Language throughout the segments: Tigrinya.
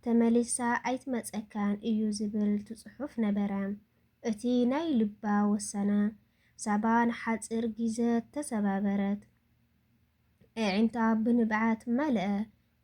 ተመሊሳ ኣይትመጸካን እዩ ዝብል ትጽሑፍ ነበረ። እቲ ናይ ልባ ወሰነ። ሳባ ንሓጺር ጊዘ ተሰባበረት። ኤዒንታ ብንብዓት መልኣ።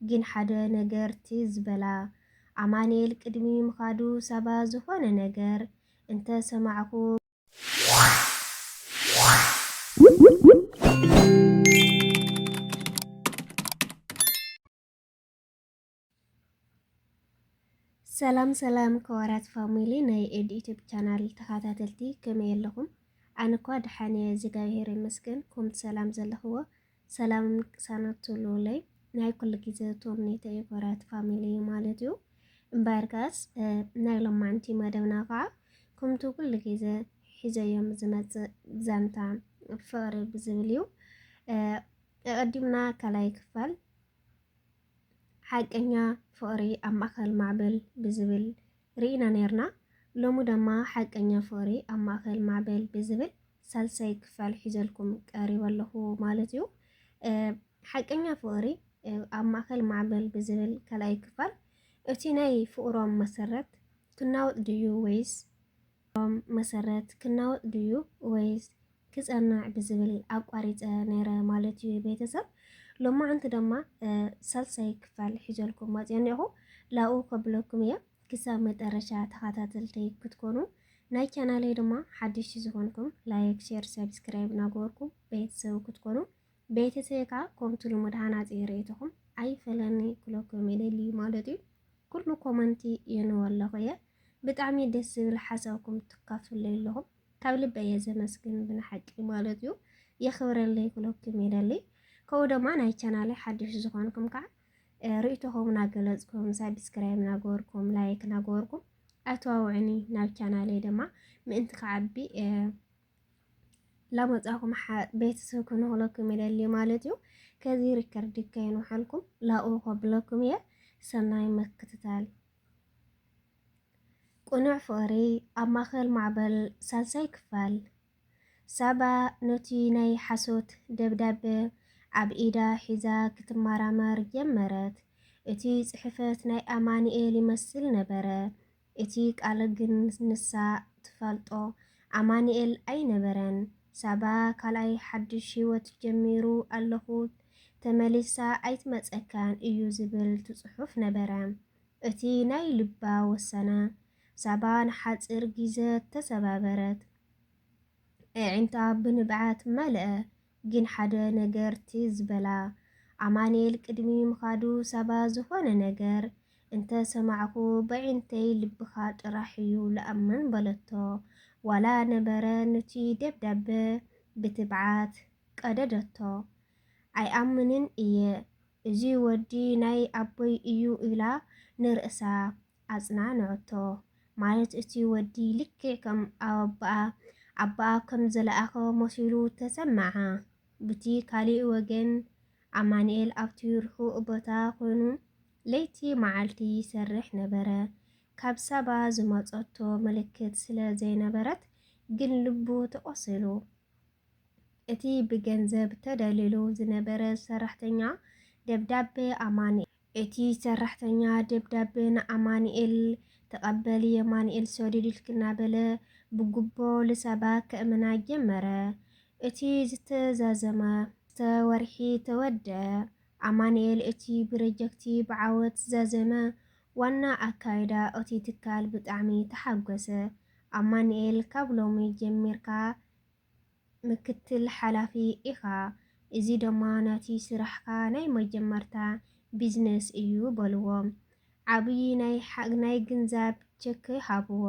ግን ሓደ ነገር ትዝ በላ። ኣማኒኤል ቅድሚ ምኻዱ ሳባ ዝኾነ ነገር እንተ ሰማዕኩ። ሰላም ሰላም ከወራት ፋሚሊ ናይ ኤድ ዩቲብ ቻናል ተኸታተልቲ ከመይ ኣለኹም? ኣነ እኳ ደሓን እየ እግዚኣብሄር ይመስገን። ኮምቲ ሰላም ዘለኽዎ ሰላም ቅሳነት ትብሉለይ ናይ ኩሉ ግዜ ተምኔተ እዩ ከወራት ፋሚሊ ማለት እዩ። እምበር ከስ ናይ ሎማዕንቲ መደብና ከዓ ከምቲ ኩሉ ግዜ ሒዘዮም ዝመፅእ ዛንታ ፍቕሪ ብዝብል እዩ። ኣቐዲምና ካልኣይ ክፋል ሓቀኛ ፍቕሪ ኣብ ማእከል ማዕበል ብዝብል ርኢና ኔርና። ሎሚ ደማ ሓቀኛ ፍቕሪ ኣብ ማእከል ማዕበል ብዝብል ሳልሳይ ክፋል ሒዘልኩም ቀሪበ ኣለኹ ማለት እዩ። ሓቀኛ ፍቕሪ ኣብ ማእከል ማዕበል ብዝብል ካልኣይ ክፋል እቲ ናይ ፍቕሮም መሰረት ክናወጽ ድዩ ወይስ መሰረት ክናወጽ ድዩ ወይስ ክጸንዕ ብዝብል ኣቋሪጸ ነይረ ማለት እዩ ቤተሰብ ሎማዓንቲ ደማ ሳልሳይ ክፋል ሒዘልኩም መጽኦ እኒኦኹ ላኡ ከብለኩም እየ ክሳብ መጠረሻ ተኻታተልተይ ክትኮኑ ናይ ቻናለይ ድማ ሓድሽ ዝኾንኩም ላይክ ሼር ሰብስክራይብ ናገበርኩም ቤተሰብ ክትኮኑ ቤተሰብ ከዓ ኮምቲ ልሙድ ሃናጺ ርእይቶኹም ኣይፈለኒ ክለኩም ይደሊ ማለት እዩ ኩሉ ኮመንቲ የንበለኹ እየ ብጣዕሚ ደስ ዝብል ሓሳብኩም ትካፍለይ ኣለኹም ካብ ልበይ እየ ዘመስግን ብናሓቂ ማለት እዩ የኽብረለይ ክብለኩም ይደሊ ከምኡ ደማ ናይ ቻናለይ ሓድሽ ዝኾንኩም ከዓ ርእይቶኹም ናገለጽኩም ሳብስክራይብ ናገበርኩም ላይክ ናገበርኩም ኣተዋውዕኒ ናብ ቻናለይ ደማ ምእንቲ ክዓቢ ላመጻኹም ቤተሰብ ክንክለኩም ይደሊ ማለት እዩ ከዚ ሪከርድ ከይንውሓልኩም ላኡ ከብለኩም እየ ሰናይ ምክትታል ቅኑዕ ፍቕሪ ኣብ ማእከል ማዕበል ሳልሳይ ክፋል። ሳባ ነቲ ናይ ሓሶት ደብዳበ ኣብ ኢዳ ሒዛ ክትመራመር ጀመረት። እቲ ጽሕፈት ናይ ኣማኒኤል ይመስል ነበረ፣ እቲ ቃል ግን ንሳ ትፈልጦ ኣማኒኤል ኣይነበረን። ሳባ ካልኣይ ሓድሽ ህይወት ጀሚሩ ኣለኹ፣ ተመሊሳ ኣይትመጸካን እዩ ዝብል ትጽሑፍ ነበረ። እቲ ናይ ልባ ወሰነ። ሳባ ንሓጺር ጊዘ ተሰባበረት። ኤዒንታ ብንብዓት መልኣ። ግን ሓደ ነገር ትዝ በላ። ኣማንኤል ቅድሚ ምኻዱ ሳባ ዝኾነ ነገር እንተ ሰማዕኩ በዒንተይ ልብኻ ጥራሕ እዩ ልኣምን በለቶ። ዋላ ነበረ ኑቲ ደብዳበ ብትብዓት ቀደደቶ። ኣይኣምንን እየ። እዚ ወዲ ናይ ኣቦይ እዩ ኢላ ንርእሳ ኣጽናንዖቶ። ማለት እቲ ወዲ ልክዕ ከም ኣቦኣ ኣቦኣ ከም ዝለኣኾ መሲሉ ተሰመዓ። ብቲ ካሊእ ወገን ኣማኒኤል ኣብቲ ርሑቕ ቦታ ኮይኑ ለይቲ መዓልቲ ይሰርሕ ነበረ። ካብ ሳባ ዝመጸቶ ምልክት ስለ ዘይነበረት ግን ልቡ ተቖሲሉ። እቲ ብገንዘብ ተደልሉ ዝነበረ ሰራሕተኛ ደብዳበ ኣማኑኤል። እቲ ሰራሕተኛ ደብዳበ ንኣማኑኤል ተቐበል የማኑኤል ሰዱድልክ እናበለ ብጉቦ ልሳባ ከእምና ጀመረ። እቲ ዝተዛዘመ። ክልተ ወርሒ ተወድኣ። ኣማኑኤል እቲ ብረጀክቲ ብዓወት ዛዘመ ዋና ኣካይዳ እቲ ትካል ብጣዕሚ ተሓጎሰ። ኣማኑኤል ካብ ሎሚ ጀሚርካ ምክትል ሓላፊ ኢኻ፣ እዚ ደማ ናቲ ስራሕካ ናይ መጀመርታ ቢዝነስ እዩ በልዎ። ዓብይ ናይ ናይ ግንዛብ ቸክ ሃብዎ።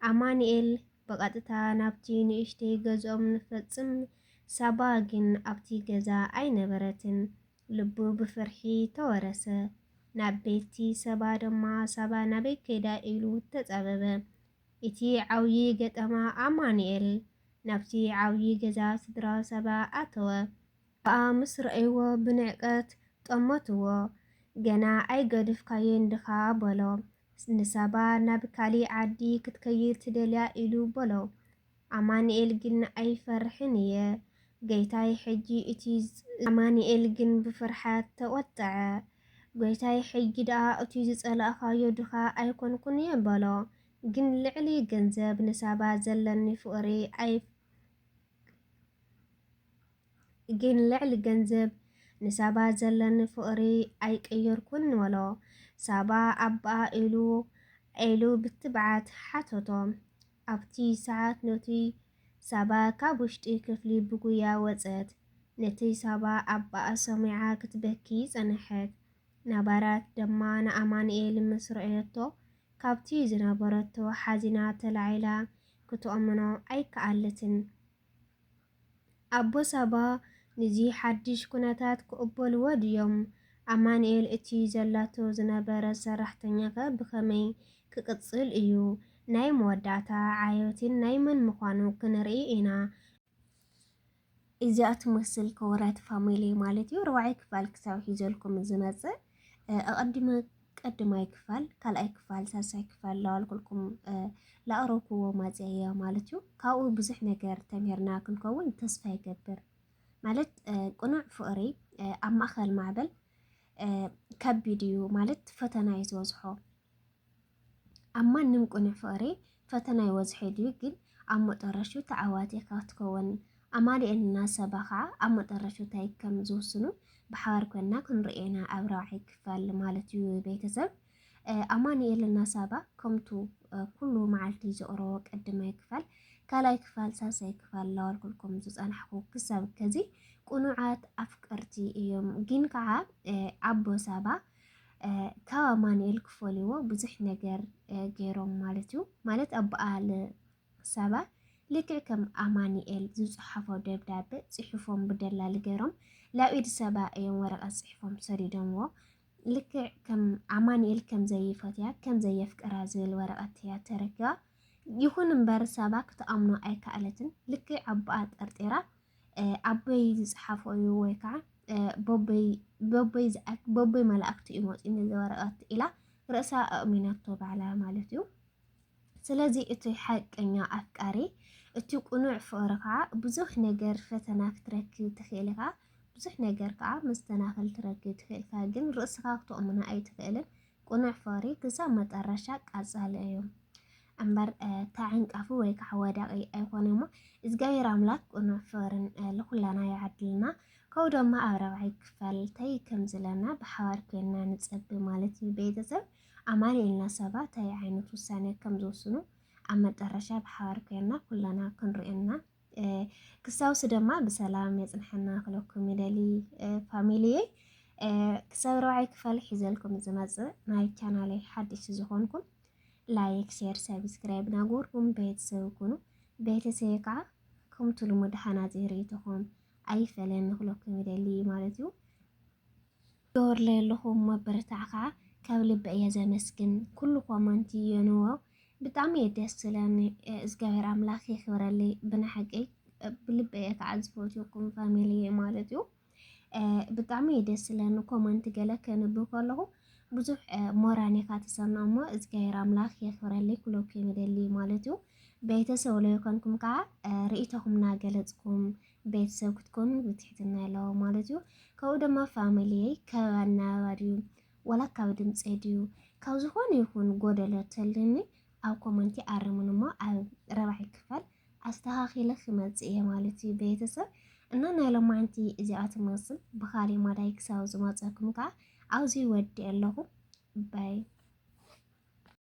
ኣማኒኤል ብቐጥታ ናብቲ ንእሽተይ ገዝኦም ንፈጽም፣ ሳባ ግን ኣብቲ ገዛ ኣይነበረትን። ልቡ ብፍርሒ ተወረሰ። ናብ ቤትቲ ሰባ ደማ ሳባ ናበይ ከይዳ ኢሉ ተጻበበ። እቲ ዓውዪ ገጠማ ኣማኑኤል ናብቲ ዓውዪ ገዛ ስድራ ሳባ ኣተወ። ከኣ ምስ ረኣይዎ ብንዕቀት ጠመትዎ። ገና ኣይገደፍካዮን ድኻ በሎ። ንሳባ ናብ ካሊእ ዓዲ ክትከይድ ትደልያ ኢሉ በሎ። ኣማኒኤል ግን ኣይፈርሕን እየ ገይታይ ሕጂ እቱይ ዝፀልኦ ኣማኒኤል ግን ብፍርሓት ተቆጠዐ ጎይታይ ሕጂ ዳኣ እቱይ ዝፀላእካዮ ድኻ ኣይኮንኩን እየ በሎ ግን ልዕሊ ገንዘብ ንሳባ ዘለኒ ፍቅሪ ኣይፈ ግን ልዕሊ ገንዘብ ንሳባ ዘለኒ ፍቅሪ ኣይቀየርኩን በሎ ሳባ ኣባኣ ኢሉ ኢሉ ብትብዓት ሓተቶ ኣብቲ ሰዓት ኑቲ ሳባ ካብ ውሽጢ ክፍሊ ብጉያ ወጸት። ኑቲ ሳባ ኣባኣ ሰሚዓ ክትበኪ ጸነሐት። ናባራት ደማ ንኣማንኤል ምስ ረኣየቶ ካብቲ ዝነበረቶ ሓዚና ተላዒላ ክትኦምኖ ኣይከኣለትን። ኣቦ ሳባ ንዚ ሓድሽ ኩነታት ክቕበልዎ ድዮም? ኣማኑኤል እቲ ዘላቶ ዝነበረት ሰራሕተኛኸ ብኸመይ ክቕጽል እዩ? ናይ መወዳእታ ዓዮቲን ናይ መን ምዃኑ ክንርኢ ኢና። እዚኣ ትመስል ክቡራት ፋሚሊ ማለት እዩ ኣርባዕይ ክፋል ክሳብ ሒዘልኩም ዝመጽእ ኣቐዲመ ቀድማይ ክፋል ካልኣይ ክፋል ሳልሳይ ክፋል ላዋልኩልኩም ላኣረኩዎ ማፅያ ማለት እዩ ካብኡ ብዙሕ ነገር ተምህርና ክንከውን ተስፋ ይገብር ማለት ቅኑዕ ፍቕሪ ኣብ ማእኸል ማዕበል ከቢድ እዩ ማለት ፈተና እዩ ዝበዝሖ ኣብ ማንም ቅኑዕ ፍቕሪ ፈተና ይወዝሒ ድዩ ግን ኣብ መጠረሹ ተዓዋቲ ካትከወን ኣማሊኤን እና ሰባ ከዓ ኣብ መጠረሹ ታይ ከም ዝውስኑ ብሓባር ኮይና ክንርኤ ኢና ኣብ ራብዓይ ክፋል ማለት እዩ ቤተሰብ ኣማኒኤል እና ሳባ ከምቱ ኩሉ መዓልቲ ዘቕረቦ ቀድማይ ክፋል ካልኣይ ክፋል ሳልሳይ ክፋል ላዋልኩልኩም ዝፀናሕኩ ክሳብ ከዚ ቁኑዓት ኣፍቀርቲ እዮም ግን ከዓ ኣቦ ሳባ ካብ ኣማንኤል ክፈልዎ ብዙሕ ነገር ገይሮም ማለት እዩ ማለት ኣበኣል ሰባ ልክዕ ከም ኣማንኤል ዝፅሓፎ ደብዳቤ ፅሑፎም ብደላሊ ገይሮም ላብ ኢድ ሰባ እዮም ወረቀት ፅሑፎም ሰዲዶምዎ ልክዕ ከም ኣማንኤል ከም ዘይፈትያ ከም ዘየፍቅራ ዝብል ወረቀት እያ ተረኪባ ይኹን እምበር ሰባ ክትኣምኖ ኣይከኣለትን ልክዕ ኣቦኣ ጠርጢራ ኣቦይ ዝፅሓፎ እዩ ወይ ከዓ በቦይ መላእክቲ እዩ መፂኡ ነዚ ወረቐት ኢላ ርእሳ ኣእሚናቶ ባዕላ ማለት እዩ። ስለዚ እቲ ሓቀኛ ኣፍቃሪ እቲ ቁኑዕ ፍቕሪ ከዓ ብዙሕ ነገር ፈተና ክትረክብ ትኽእል ኢኻ፣ ብዙሕ ነገር ከዓ መስተናኸል ትረክብ ትኽእል ኢኻ፣ ግን ርእስኻ ክተእምኖ ኣይትኽእልን። ቅኑዕ ፍቕሪ ክሳብ መጠረሻ ቀጻሊ እዩ እምበር ተዓንቃፊ ወይ ከዓ ወዳቂ ኣይኮነ እሞ እግዚኣብሔር ኣምላክ ቅኑዕ ፍቕርን ልኩላና ይዓድልና ከው ድማ ኣብ ረብዓይ ክፈል ታይ ከም ዝለና ብሓባር ኮይንና ንጸቢ ማለት እዩ ቤተሰብ ኣማኒኤልና ሰባ ታይ ዓይነት ውሳኔ ከም ዝወስኑ ኣብ መጠረሻ ብሓባር ኮይንና ኩለና ክንሪኦ ክሳውሲ ደማ ብሰላም የጽንሐና ክለኩም ይደሊ ፋሚሊየይ ክሳብ ረብዓይ ክፋል ሒዘልኩም ዝመጽእ ናይ ቻናለይ ሓድሽ ዝኾንኩም ላይክ ሼር ሰብስክራይብ ናጎርኩም ቤተሰብ ኩኑ ቤተሰብ ከዓ ከምቲ ልሙድ ሓናጺ ርእይቶኹም ኣይፈለን ንክለኩም ይደሊ ማለት እዩ ገበሩለይ ኣለኹ መበረታዕካ ካብ ልቢ እየ ዘመስግን ኩሉ ኮመንቲ የንዎ ብጣዕሚ እየ ደስ ዝለኒ እዝጋብሔር ኣምላክ የክብረለይ ብናሓቂ ብልቢ እየ ከዓ ዝፈትወኩም ፋሚሊየይ ማለት እዩ ብጣዕሚ እየ ደስ ዝለኒ ኮመንቲ ገለ ከንብብ ከለኹ ብዙሕ ሞራን ኢኻ ትሰምዕ እሞ እግዚኣብሔር ኣምላኽ የኽብረለይ ኩለኩ ይምደልይ ማለት እዩ ቤተሰብ ለይኮንኩም ከዓ ርእይቶኹም ናገለፅኩም ቤተሰብ ክትኮኑ ብትሕትና ኣለዎ ማለት እዩ ካብኡ ድማ ፋሚሊየይ ካብ ኣነባባ ድዩ ዋላ ካብ ድምፀይ ድዩ ካብ ዝኾነ ይኹን ጎደሎ ተልኒ ኣብ ኮመንቲ ኣርሙን እሞ ኣብ ረባዒ ክፋል ኣስተኻኺለ ክመፅእ እየ ማለት እዩ ቤተሰብ እና ናይ ሎማዓንቲ እዚኣ ትመስል ብኻሊእ ማዳይ ክሳብ ዝመፀኩም ከዓ ኣብዚ ወዲ ኣለኹ ባይ